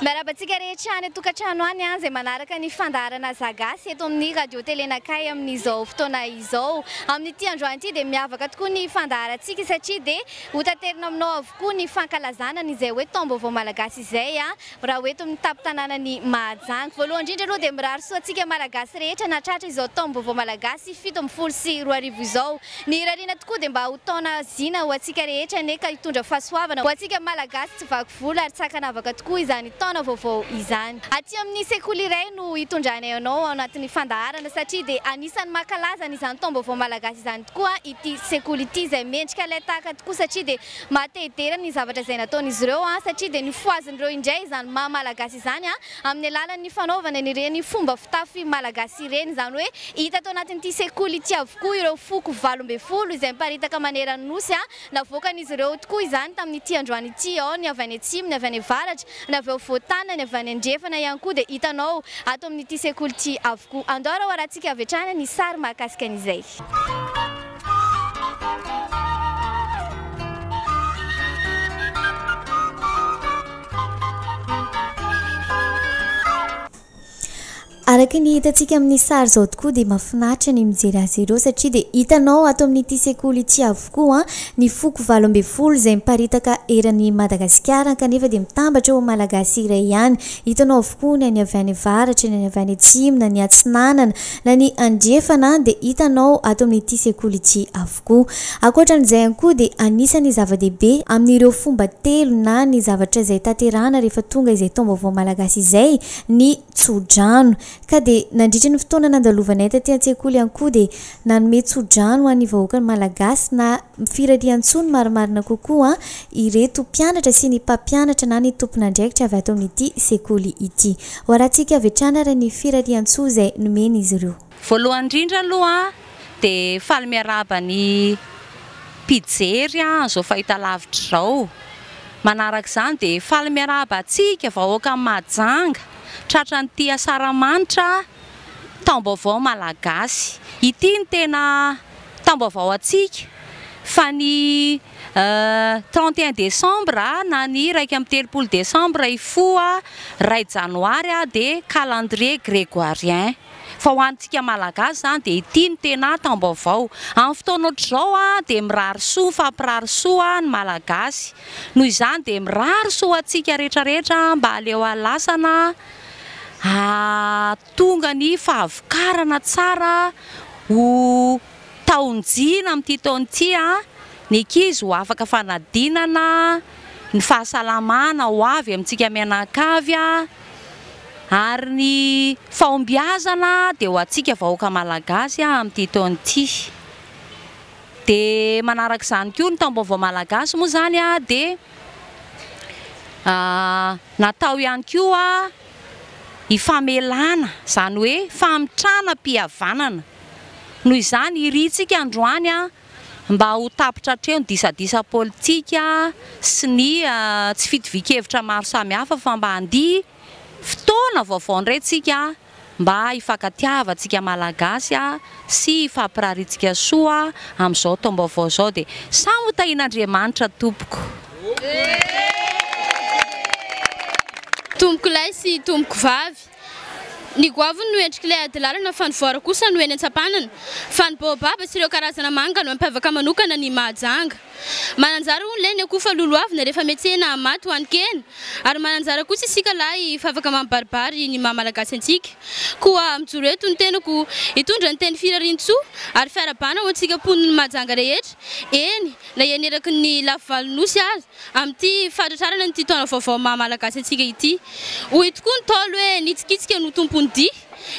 Miarahaba antsika rehetra any an-tokantrano any izay manaraka ny fandaharana Za Gasy eto amin'ny Radio Télé Nakay amin'izao fotoana izao. Amin'ity androany ity dia miavaka tokoa ny fandaharantsika satria dia hotaterina aminao avokoa ny fankalazana an'izay hoe taom-baovao malagasy izay Raha ho eto amin'ny tampon-tanànan'i Mahajanga. Voalohany indrindra aloha dia mirary soa antsika Malagasy rehetra nahatratra izao taom-baovao malagasy fito ambin'ny folo sy roa arivo izao. Ny irariana tokoa dia mba ho taona zina ho antsika rehetra anie ka hitondra fahasoavana ho antsika Malagasy tsy vaky volo ary tsy ankanavaka tokoa izany taona vaovao izany. Aty amin'ny sekoly iray no hitondranay anao ao anatin'ny fandaharana satria dia anisan'ny mankalaza an'izany taom-baovao malagasy izany tokoa ity sekoly ity izay mendrika ilay tahaka tokoa satria dia Maha te hidera ny zavatra izay nataon'izy ireo aho satria dia nifohaziny ireo indray izany maha malagasy izany aho amin'ny alalan'ny fanaovany an'ireny fomba fitafy malagasy ireny. Izany hoe hita tao anatin'ity sekoly ity avokoa ireo foko valo ambin'ny folo izay miparitaka maneran'ny Nosy aho. Navoakan'izy ireo tokoa izany tamin'ity androany ity ao ny avy any atsimo, ny avy any avaratra, ny avy ao Voatana, ny avy any andrefana ihany koa dia hitanao ato amin'ity sekoly ity avokoa. Andao raha hoarantsika avy hatrany ny sary mahakasika an'izay. Araka ny hitantsika amin'ny sary izao tokoa dia mahafinaritra ny mijery azy ireo satria dia hitanao ato amin'ity sekoly ity avokoa ah, ny foko valo ambin'ny folo izay miparitaka eran'i Madagasikara kanefa dia mitambatra ho Malagasy iray ihany. Hitanao avokoa ny any avy any avaratra, ny any avy any atsimo na ny atsinanana. Na ny andrefana dia hitanao ato amin'ity sekoly ity avokoa. Ankoatra an'izay ihany koa dia anisan'ny zava-dehibe amin'ireo fomba telo na ny zavatra izay tanterahana rehefa tonga izay taom-baovao malagasy izay ny tsodrano. Ka dia nandritry ny fotoana nandalovanay taty an-tsekoly ihany koa dia nanome tsodrano ho an'ny vahoakan'ny Malagasy na Firariantsoa marimarina kokoa ireto mpianatra sy ny mpampianatra na ny tompon'andraikitra avy ato amin'ity sekoly ity. Hoarahantsika avy hatrany ary ny firariantsoa izay nomen'izy ireo. Voalohany indrindra aloha dia faly miarahaba ny mpijery an'izao fahitalavitra izao. Manaraka izany dia faly miarahaba antsika vahoakan'i Mahajanga tratran'ity Asaramanitra taom-baovao malagasy. Ity no tena tam-baovao antsika fa ny trente et un décembre na ny iraika amby telopolo décembre hifoha iray janoary dia calendrier grégoirien fa ho antsika malagasy izany dia ity no tena tam-baovao. Amin'ny fotoana ohatr'izao dia mirary soa, mifampirary soa ny malagasy. Noho izany dia mirary soa ho antsika rehetra rehetra mba aleo alasana Tonga ny fahavokarana tsara ho taon-jina amin'ity taona ity. Ny ankizy ho afaka fanadinana, ny fahasalamana ho avy amintsika mianankavy ary ny fahombiazana dia ho antsika vahoaka Malagasy amin'ity taona ity. Dia manaraka izany koa ny taom-baovao Malagasy moa izany dia natao ihany koa. hifamelana, izany hoe famitranam-pihavanana. Noho izany, irintsika androany mba ho tapitra hatreo ny disadisa politika sy ny tsy fitovian-kevitra maro samihafa fa mba handia fotoana vaovao indray isika mba hifankatiavantsika Malagasy. sy hifampirarintsika soa amin'izao taom-baovao izao dia samy ho tahian'Andriamanitra tompoko. Tompoko lahy sy tompoko vavy. Ny goavy no endrik'ilay ady lalana fa ny voara kosa no eny an-tsampanana. Fa ny baobaba sy ireo karazana manga no mampiavaka manokana an'i Mahajanga. Mananjara hono lahy ny akoho fa lolohavina rehefa mihetsehina hamaty ho hanin-kena. Ary mananjara kosa isika lahy fa afaka mampibaribary ny maha Malagasy antsika. Koa mijoro eto ny tenako hitondra ny teny Firariantsoa ary fiarahabana ho antsika mponin'i Mahajanga rehetra, eny na eny eraky ny lafy valo nosy aza, amin'ity fahatratrarana an'ity taona vaovao maha Malagasy antsika ity. Hoy tokoa ny Ntaolo hoe, Ny tsikitsika no tompon'ny dihy,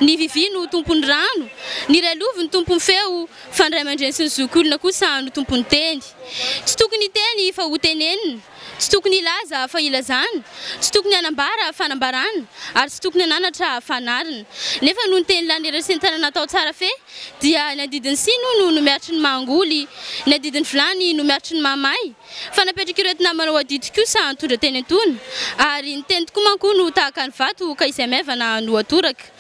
ny vivy no tompon'ny rano, ny railovy no tompon'ny feo, Fa ny ray aman-dreny sy ny zokiolona kosa no tompon'ny teny. Tsy tokony hiteny fa hotenenina, tsy tokony hilaza fa hilazana, tsy tokony hanambara fa nambarana, ary tsy tokony hananatra fa hanarina. Nefa noho ny teny lany iraisan-tanana atao tsara feh, dia ny adidin'ny siny hono no miaritry ny maha-angoly, ny adidin'ny vilany no miaritry ny maha-may. Fa napetrak'ireto namana ho adidy kosa ny tondra teny antoina, ary ny teny tokoa manko hono tahaka ny vato ka izay maivana no atoraka.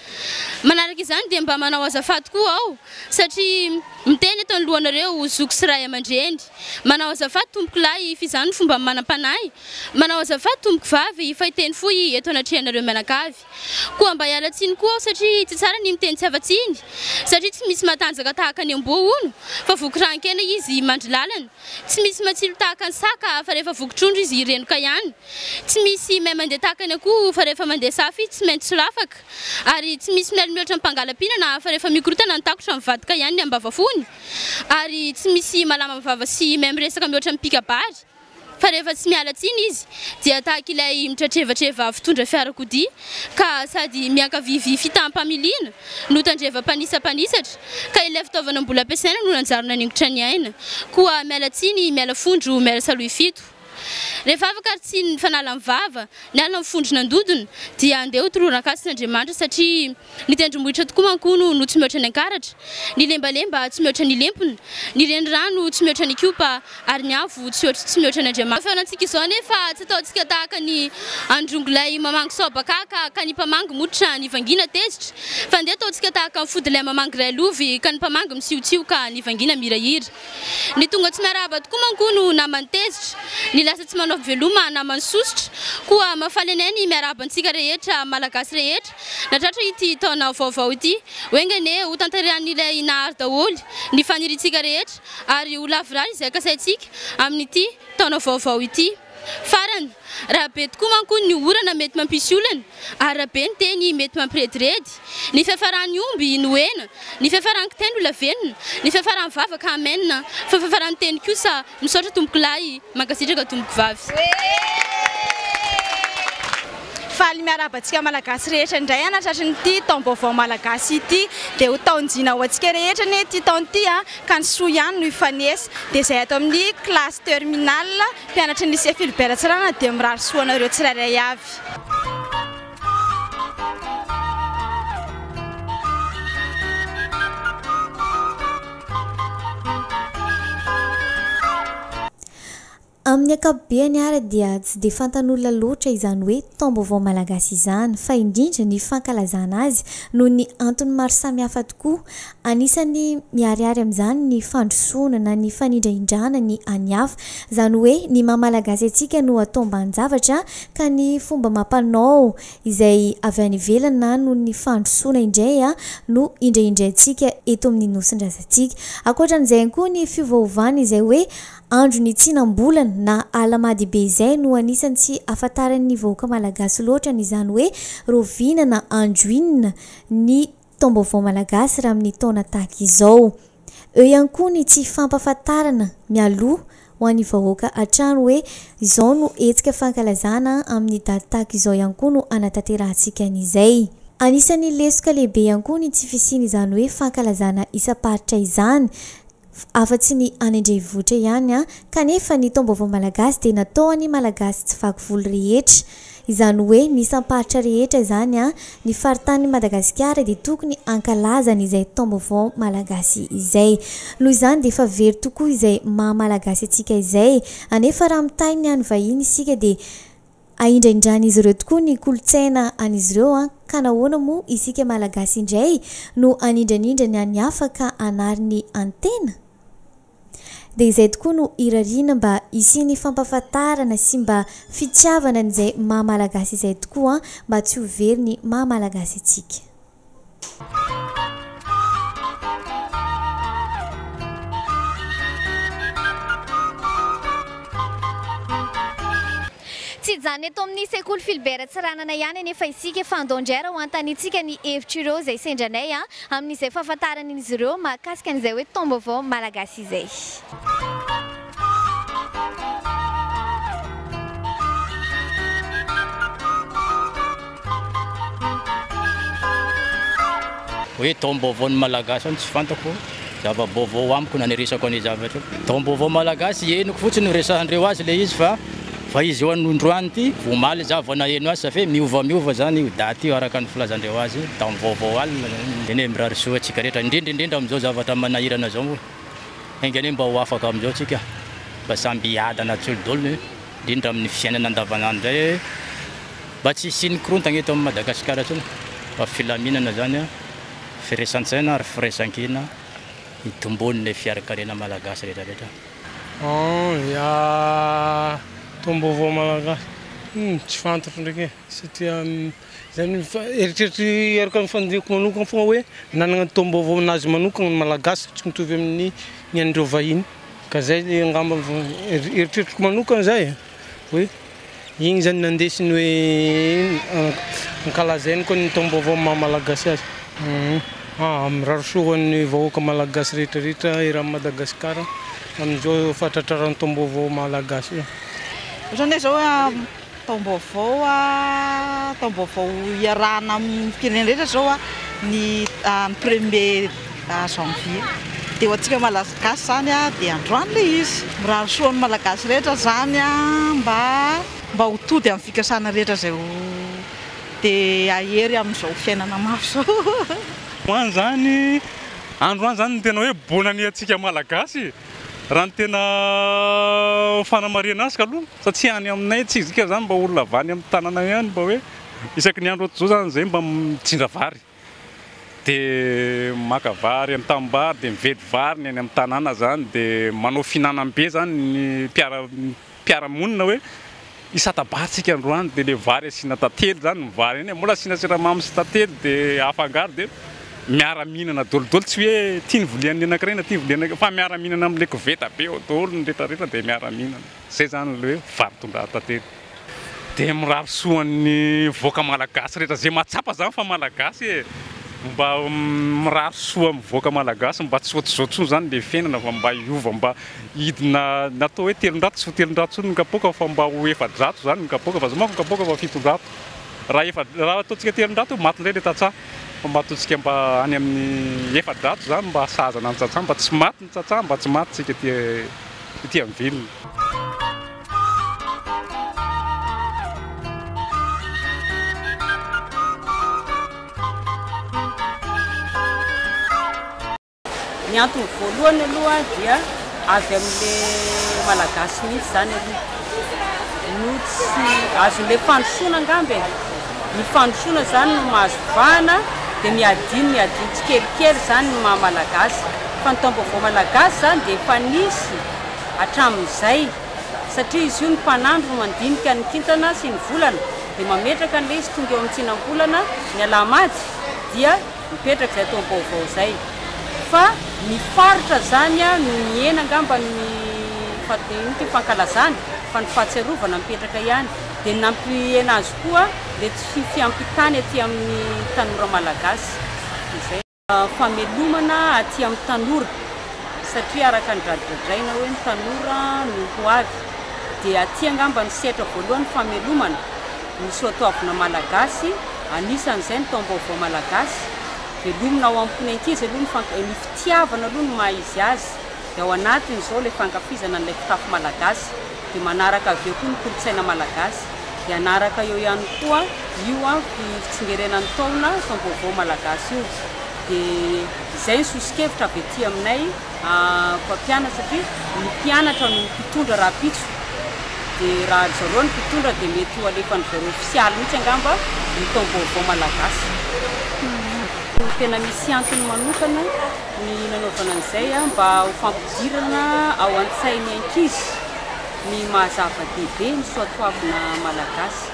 Manaraka izany dia mba manao azafady koa aho satria miteny eto anoloanareo ho zoky sy ray aman-dreny. Manao azafady tompoko lahy if izany no fomba manam-panahy. Manao azafady tompoko vavy if hiteny fohy eto anatrehanareo mianakavy. Koa mba hiala tsiny koa aho satria tsy tsara ny miteny tsy afa-tsiny satria tsy misy matanjaka tahaka ny amboa hono fa voky rahan-kena izy mandry lalana. Tsy misy matsilo tahaka ny saka fa rehefa voky trondro izy renoka ihany. Tsy misy mahay mandeha tahaka ny akoho fa rehefa mandeha safy tsy maintsy solafaka. Ary tsy misy mialy mihoatra ny mpangalam-pihinana fa rehefa mikorotana ny takotra mivadika ihany ny ambava fony. Ary tsy misy malama vava sy mahay miresaka mihoatra ny mpikabary fa rehefa tsy miala tsiny izy dia tahaka ilay mitratrevatreva mpitondra fiarakodia ka sady miankavia vy fitaham-pamiliana no tandreva mpanisa mpanisatra ka ilay fitaovana mbola ampiasaina no nanjary naningotra ny aina. Koa miala tsiny, miala fondro, miala salohy fito. Rehefa afaka ary tsy ny fanala ny vava, ny ala mifondro nandodona, dia andeha ho tolorana an-kasin' Andriamanitra satria ny tendrombohitra tokoa manko hono no tsy mihoatra ny ankaratra, ny lembalemba tsy mihoatra ny lempona, ny renirano tsy mihoatra ny kiopa ary ny avo tsy hoatr' tsy mihoatra ny Andriamanitra. Efa fanantsika izao anefa tsy ataontsika tahaka ny androngolahy mamangy saobakaka ka ny mpamangy mototra nivangina tezitra, fa andeha ataontsika tahaka ny fodilay mamangy railovy ka ny mpamangy misiotsioka nivangina mihirahira. Ny tonga tsy miarahaba tokoa manko no naman'ny tezitra, ny lasa tsy manao veloma naman'ny sosotra. Koa mahafaly anay ny miarahaba antsika rehetra Malagasy rehetra natratra ity taona vaovao ity. Ho enga anie ho tanterahin'Ilay Nahary daholo ny faniriantsika rehetra ary ho lavorary izay kasaintsika amin'ity taona vaovao ity. Farany, raha be tokoa manko ny orana mety mampisy olana, ary raha be ny teny mety mampirediredy, ny fiafaran'ny omby no hena, ny fiafaran'ny kitay no lavenona, ny fiafaran'ny vava ka amen, fa fiafaran'ny teny kosa misaotra tompokolahy, mankasitraka tompokovavy. Faly miarahaba antsika Malagasy rehetra indray hanatratry ny ity taom-baovao Malagasy ity. Dia ho taon-jina ho antsika rehetra anie ity taona ity a! ka ny soa ihany no hifanesy dia izay ato amin'ny classe terminale mpianatry ny lycée Philbert Ratsirahonana dia mirary soa anareo tsirairay avy. Amin'ny ankapobeny ary dia tsy dia fantan'olona loatra izany hoe taom-baovao malagasy izany, fa indrindra ny fankalazana azy noho ny antony maro samihafa tokoa. Anisan'ny miharihary amin'izany ny fandrosoana na ny fanindrahindrana ny an'ny hafa. Izany hoe ny maha malagasy antsika no atao ambanin-javatra ka ny fomba amam-panao izay avy any ivelany na noho ny fandrosoana indray no indrahindraintsika eto amin'ny nosin-drazantsika. Ankoatran'izay ihany koa ny fiovaovana izay hoe Andro ny tsinam-bolana na alahamadibe izay no anisan'ny tsy afantaran'ny vahoaka malagasy loatra ny izany hoe roviana na andro inona ny taom-baovao malagasy raha amin'ny taona tahaka izao. Eo ihany koa ny tsy fampafantarana mialoha ho an'ny vahoaka hatrany hoe izao no hetsika fankalazana amin'ny daty tahaka izao ihany koa no hanatanterahantsika an'izay. Anisan'ny lesoka lehibe ihany koa ny tsy fisian'izany hoe fankalazana isam-paritra izany afa-tsy ny any an-drenivohitra ihany kanefa ny taom-baovao malagasy dia natao ho an'ny Malagasy tsy vaky volo rehetra. Izany hoe ny isam-paritra rehetra izany ny faritanin'i Madagasikara dia tokony hankalaza an'izay taom-baovao malagasy izay. Noho izany dia efa very tokoa izay maha-malagasy antsika izay. Anefa raha mitahy ny an'ny vahiny isika dia Ahindraindran'izy ireo tokoa ny kolontsaina an'izy ireo an! Ka nahoana moa isika Malagasy indray no anindranindrany ny an'ny hafa ka hanary ny an'ny tena? Dia izay tokoa no irariana mba hisian'ny fampahafantarana sy mba fitiavana an'izay maha Malagasy izay tokoa an! Mba tsy ho very ny maha Malagasy antsika. Tsy hijanona eto amin'ny Sekoly Philbert Tsiranana ihany anefa isika fa andao indray ary hoantanintsika ny hevitr'ireo izay sendra anay amin'izay fahafantarana an'izy ireo mahakasika an'izay hoe taom-baovao malagasy izay. Hoe taom-baovao ny Malagasy zany tsy fantako zava-baovao amiko na ny resako an'io zavatra io. Taom-baovao Malagasy henoko fotsiny resahandreo azy le izy fa fa izy io anondroany ity omaly za vao naheno azy ça fait miova miova zany io date io araka ny filazandreo azy io taom-baovao alina zany. Tena hoe mirary soa antsika rehetra indrindra indrindra amin'izao zavatra manahirana zao. Enga anie mba ho afaka amin'izao tsika fa samby hiadana tsolidolo indrindra amin'ny fiainana andavanandro indray e! Mba tsy hisian'ny korontana eto amin'i Madagasikara intsony fa filaminana izany an! Firesan-tsaina ary firaisan-kina hitomboan'ilay fiarakarena malagasy rehetra rehetra. An ya tombovo malagasy. Hum tsy fantatra ndraiky e satria. Izany eritreritro araka ny fandinihako manokana foana hoe nanana ny taom-baovao nazy manokana ny Malagasy tsy mitovy amin'ny ny an'ireo vahiny ka izay le angamba eritreritro manokana zah e hoe iny zany nandesiny hoe ankalazainy koa ny taom-baovao maha Malagasy azy. Ah, mirary soa ho an'ny vahoaka Malagasy rehetra rehetra eran'i Madagasikara amin'izao fahatratraran'ny taom-baovao Malagasy io. Ohatran'ny hoe zao Taom-baovao, taom-baovao iarahana amin'ny firenena rehetra izao ny ny premier janvier. Dia ho antsika Malagasy izany dia androany ilay izy. Mirary soa ny Malagasy rehetra izany mba mba ho tody amin'ny fikasana rehetra izay ho dia hahery amin'izao fiainana mafy izao. Androany izany izany no tena hoe bonne année antsika Malagasy e! Raha ny tena fanamarihana azy aloha fa tsy any aminay tsy isika zany mba olona avy any amin'ny tanàna ihany mba hoe isaky ny andro ohatr'izao zany izay mba mitsinda vary dia maka vary amin'ny tanimbary dia mividy vary ny any amin'ny tanàna zany dia manao fihinanam-be zany ny mpiara mpiara-monina hoe io sata-barintsika androany dia ilay vary asiana tantely izany ny vary iny e, mbola asiana siramamy sy tantely dia afangaro dia miara-mihinana daholodoly tsy hoe ity ny vilian'ny anankiray na ity ny vilian'ny anankiray fa miara-mihinana amin'ilay koveta be ao daholo ny retraretra dia miara-mihinana, izay izany ilay hoe vary tondrahan-tantely dia mirary soa an'ny vahoaka malagasy rehetra izay mahatsapa izany fa malagasy e! mba mirary soa amin'ny vahoaka malagasy mba tsy hoatr'izao intsony izany ilay fiainana fa mba hiova mba Hidina natao hoe telonjato, tsy ho telonjato intsony ny kapoaka fa mba ho efajato izany ny kapoaka fa zao manko ny kapoaka efa fitonjato. Raha efa, raha ataontsika telonjato eo maty indray ilay tantsaha fa mba ataontsika mba any amin'ny efajato izany mba sahazana ny tantsaha, mba tsy maty ny tantsaha, mba tsy maty isika ety ety amin'ny vilona. Ny antony voalohany aloha dia avy amin'ilay Malagasy mihitsy izany aloha no tsy azon'ilay fandrosoana angamba e. Ny fandrosoana izany no mahazo vahana dia miadino miadino tsikelikely izany ny maha Malagasy. Fa ny taom-baovao Malagasy izany dia efa nisy hatramin'izay satria izy io ny mpanandro no mandinika ny kintana sy ny volana dia mametraka an'ilay izy tonga eo amin'ny tsinam-bolana ny Alahamady dia mipetraka izay toa vaovao izay fa ny faritra izany no nihena angamba ny inona ity fankalazana fa ny fahatsiarovana mipetraka ihany dia nampihena azy koa ilay tsy fiampitany aty amin'ny tanora malagasy izay famelomana aty amin'ny tanora satria araka ny dradradraina hoe ny tanora no ho avy dia aty angamba ny sehatra voalohany famelomana Ny soatoavina malagasy, anisan'izay ny taom-baovao malagasy, velomina ao am-pon' ny ankizy aloha ny fank, ny fitiavana aloha no maha izy azy, dia ao anatiny izao ilay fankafizana an'ilay fitafy malagasy, dia manaraka avy eo koa ny kolontsaina malagasy, dia hanaraka eo ihany koa io an, fi, fitsingerenan'ny ny taona, taom-baovao malagasy io, dia izay ny soso-kevitra avy aty aminay. mpampianatra satria ny mpianatra no mpitondra rahampitso dia raha ry zareo no mpitondra dia mety ho alefan-dry zareo ofisialy mihitsy angamba ny taom-baovao malagasy. Koa tena misy antony manokana ny nanaovana an'izay mba ho fampidirana ao an-tsain'ny ankizy ny maha zava-dehibe ny soatoavina malagasy.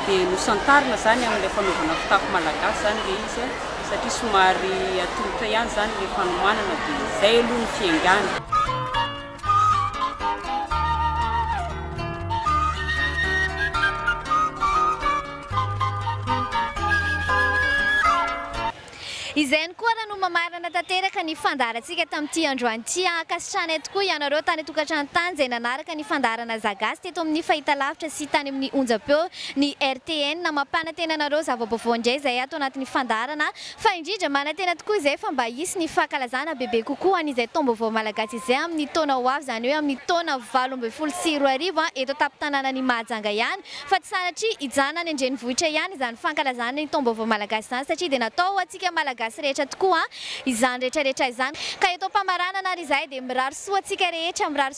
Dia nosantarina izany amin'ilay fanaovana fitafy malagasy izany ilay izy. satria somary atolotra ihany izany ilay fanomanana dia izay aloha ny fiaingàna. Izay ihany koa ary no mamarana tanteraka ny fandaharantsika tamin'ity androany ity. Ankasitrahanay tokoa ianareo tany an-tokantrano tany izay nanaraka ny fandaharana Zagasy teto amin'ny fahitalavitra sy tany amin'ny onjam-peo. Ny RTN mampanantena anareo zava-baovao indray izay ato anatin'ny fandaharana fa indrindra manantena tokoa izay fa mba hisy ny fankalazana bebe kokoa an'izay taom-baovao malagasy izay amin'ny taona ho avy izany hoe amin'ny taona valo ambin'ny folo sy roa arivo eto an-tampon-tanànan'i Mahajanga ihany fa tsy sanatria hijanona any an-drenivohitra ihany izany fankalazana ny taom-baovao malagasy izany satria dia natao ho antsika malagasy rehetra tokoa izany rehetrarehetra izany ka eto am-pamaranana ary izahay dia mirary soa antsika rehetra mirary